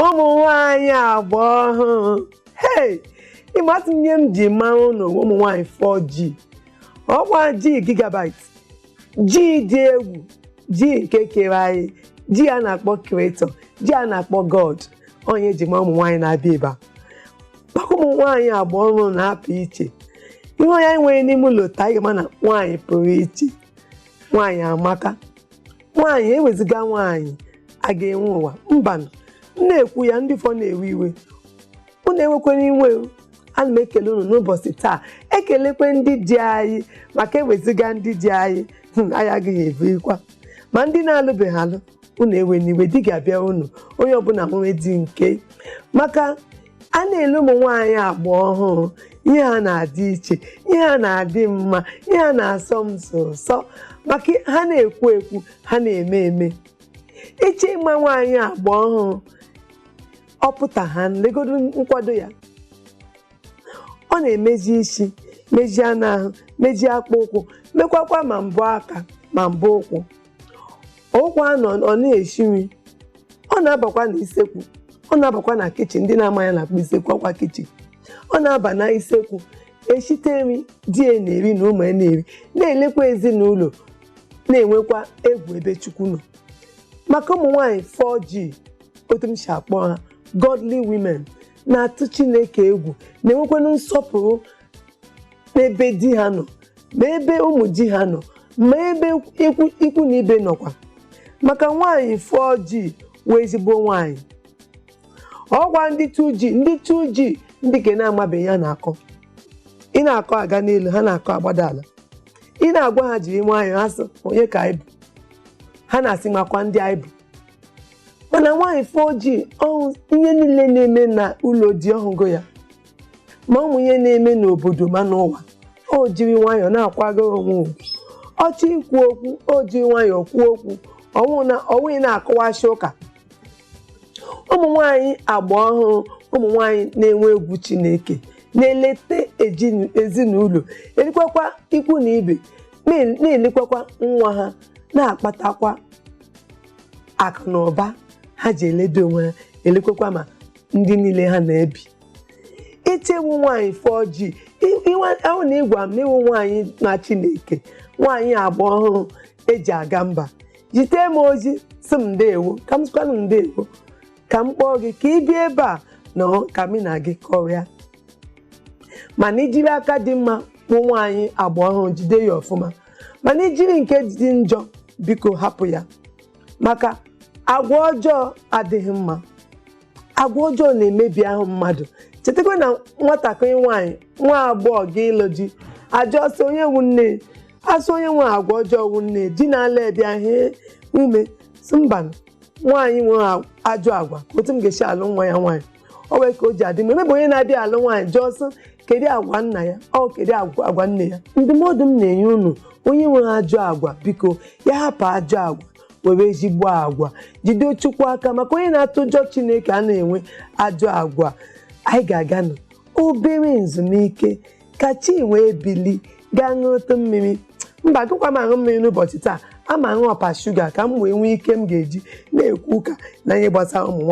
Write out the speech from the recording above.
ụmụ nwanyị agba ọhụrụ hei ị matụ ihe m ji mara ụnụ ụmụ nwanyị 4G ọkwa G gigabyte G dị egwu G nke kere anyị G a na-akpọ creator G a na-akpọ God onye e ji ma ụmụ nwanyị na-abịa ebe a maka ụmụ nwanyị agba ọhụrụ na-apụ iche ị hụ onye anyị nwere n'ime ụlọ taa ị ga-ama na nwaanyị pụrụ iche nwaanyị amaka nwaanyị eweziga nwaanyị a ga-enwe ụwa mbanụ m na-ekwu ya ndị fọ na-ewe iwe unu ewekwene iwe o. ana m ekele unu n'ụbọchị taa ekelekwe ndị di anyị maka eweziga ndị di anyị hmm, anyị agaghị ebirikwa ma ndị na-alụbeghị alụ unu ewene iwe di ga-abịa unu onye ọbụla nwere di nke maka a na-ele ụmụ nwaanyị agba ọhụrụ ihe ha na-adị iche ihe ha na-adị mma ihe ha na-asọ m sọ sọ maka ha na-ekwu ekwu ha na-eme eme ị chọọ ịma nwaanyị agba ọhụrụ ọ pụta ha legodo nkwado ya ọ na-emeji isi mejie anụ ahụ mejie akpụ ụkwụ mekwakwa ma mbọ aka ma mbọ ụkwụ ọkwa anọ ọ na-esi nri ọ na-abakwa na isekwu ọ na-abakwa na kitchen ndị na-amaghị ihe a na-akpọ isekwu ọkwa kitchen ọ na-aba na isekwu eshite nri di ya na-eri na ụmụ ya na-eri na-elekwa ezinụlọ na-enwekwa egwu ebe chukwu nọ maka ụmụ nwaanyị 4G otu m si akpọ ha godly women na-atụ chineke egwu na-enwekwanụ nsọpụrụ ma ebe di ha nọ ma ebe ụmụ di ha nọ ma ebe ikwu na ibe nọkwa maka nwaanyị 4G wụ ezigbo nwaanyị ọkwa ndị 2G ndị 2G ndị ke na-amabeghị ihe a na-akọ ị na-akọ aga n'elu ha na-akọ agbada ala ị na-agwa ha jiri nwayọọ ha sị onye ka anyị bụ ha na-asị makwa ndị anyị bụ mana nwaanyị 4G ọ hụ ihe niile na-eme na ụlọ di ọ hụgo ya ma ụmụ ihe na-eme n'obodo ma n'ụwa o jiri nwayọọ na-akwagoro onwe ugwu ọ chọọ ikwu okwu o jiri nwayọọ kwuo okwu ọ wụghị na-akọwachi ụka ụmụ nwanyị agba ọhụrụ ụmụ nwanyị na-enwe egwu Chineke na-eleta ezinụlọ elekwakwa ikwu na ibe na-elekwakwa nwa ha na-akpatakwa akụ na ụba ha ji eledo onwe ha elekwakwa ma ndị niile ha na-ebi ite i wu nwaanyị four g ahụ na ị gwa m na i wu nwaanyị na chineke nwaanyị agba ọhụrụ eji aga mba zite m ozi sị m ndewo ka m sịkwanụ ndewo ka m kpọọ gị ka ị bịa ebe a na ka mị na gị kọrịa mana i jiri aka dị mma wu nwaanyị agba ọhụrụ jide ya ọfụma mana i jiri nke dị njọ biko hapụ ya maka agwa ọjọọ adịghị mma agwa ọjọọ na-emebi ahụ mmadụ chetakwa na nwatakịrị nwaanyị nwa agbọghọ gị ịlụ di a jụọ sị onye wu nne a sị onye nwe agwa ọjọọ wu nne di na-ala bịa hee ume sị mba nwaanyị nwe ajọ agwa otu m ga-esi alụ nwa ya nwaanyị o nwee ka o ji adị mma e mebe onye na-abịa alụ nwaanyị jụọ sị kedu agwa nna ya ọ kedu agwa agwa nne ya ndụmọdụ m na-enye unu onye nwere ajọ agwa biko ya hapụ ajọ agwa were ezigbo agwa jide chukwu aka maka onye na-atụ ụjọ chineke anaghị enwe ajọ agwa anyị ga-aganụ obere nzumike ka chi wee bili gaa ṅụrụtụ mmiri mba agaghịkwa m aṅụ mmiri n'ụbọchị taa ama aṅụ ọpa shuga ka m wee nwee ike m ga-eji na-ekwu ụka na ihe gbasara ụmụ nwaanyị